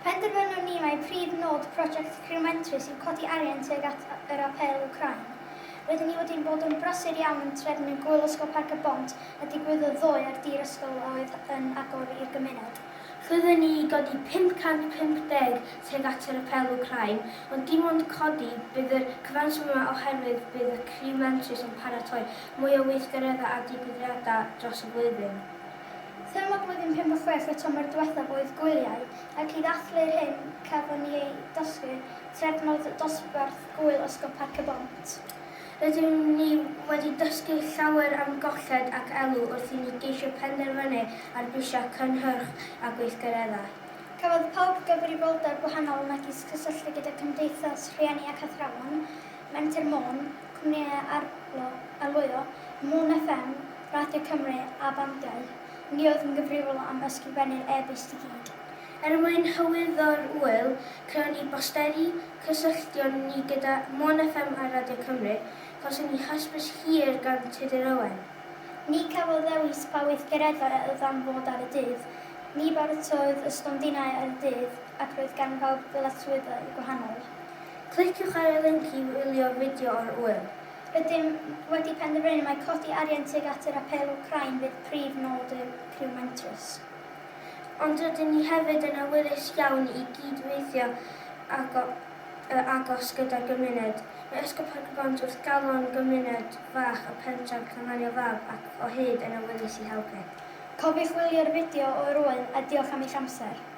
Penderfynon ni mai prif nod prosiect Criw Mentrus yw codi arian tuag at yr Apêl Wcráin. Rydyn ni wedi bod yn brysur iawn yn trefnu Gŵyl Ysgol Parc y Bont a digwyddodd ddoe ar dir ysgol a oedd yn agor i'r gymuned. Rydyn ni i godi 550 tuag at yr Apêl Wcráin, ond dim ond codi, bydd y cyfanswm yma oherwydd bydd y Criw Mentrus yn paratoi Mwy o weithgareddau a digwyddiadau dros y flwyddyn. Thema blwyddyn pump a chwech y tymor diwethaf oedd gwyliau, ac i ddathlu'r hyn cafon ni ei dysgu, trefnodd dosbarth gŵyl Ysgol Parc y Bont. Rydyn ni wedi dysgu llawer am golled ac elw wrth i ni geisio penderfynu ar brisiau cynhyrch a gweithgareddau. Cafodd pawb gyfrifoldeb gwahanol megis cysylltu gyda cymdeithas, rhieni ac athrawon. Menter Môn, cwmnïau arlo, arlwyo, Môn FM, Radio Cymru a bandiau, ni oedd yn gyfrifol am ysgrifennu'r e-byst i gyd. Er mwyn hyrwyddo'r ŵyl, crëwn ni bosteri, cysylltion ni gyda Môn FM a Radio Cymru, cawson ni hysbys hir gan Tudur Owen. Ni cafodd ddewis pa weithgareddau a oedd am fod ar y dydd, ni baratodd y stondinau ar y dydd ac roedd gan bawb ddyletswyddau gwahanol. Cliciwch ar y linc i wylio'r fideo o'r ŵyl. Rydym wedi penderfynu mai codi arian tuag at yr Apêl Wcráin fydd prif nod y criw mentrus. Ond rydyn ni hefyd yn awyddus iawn i gyd-weithio yn agos gyda'r gymuned. Mae Ysgol Parc-y-bont wrth galon gymuned fach y pentref Llanfagno Fab ac o hyd yn awyddus i helpu. Cofiwch wylio'r fideo o'r ŵyl a diolch am eich amser.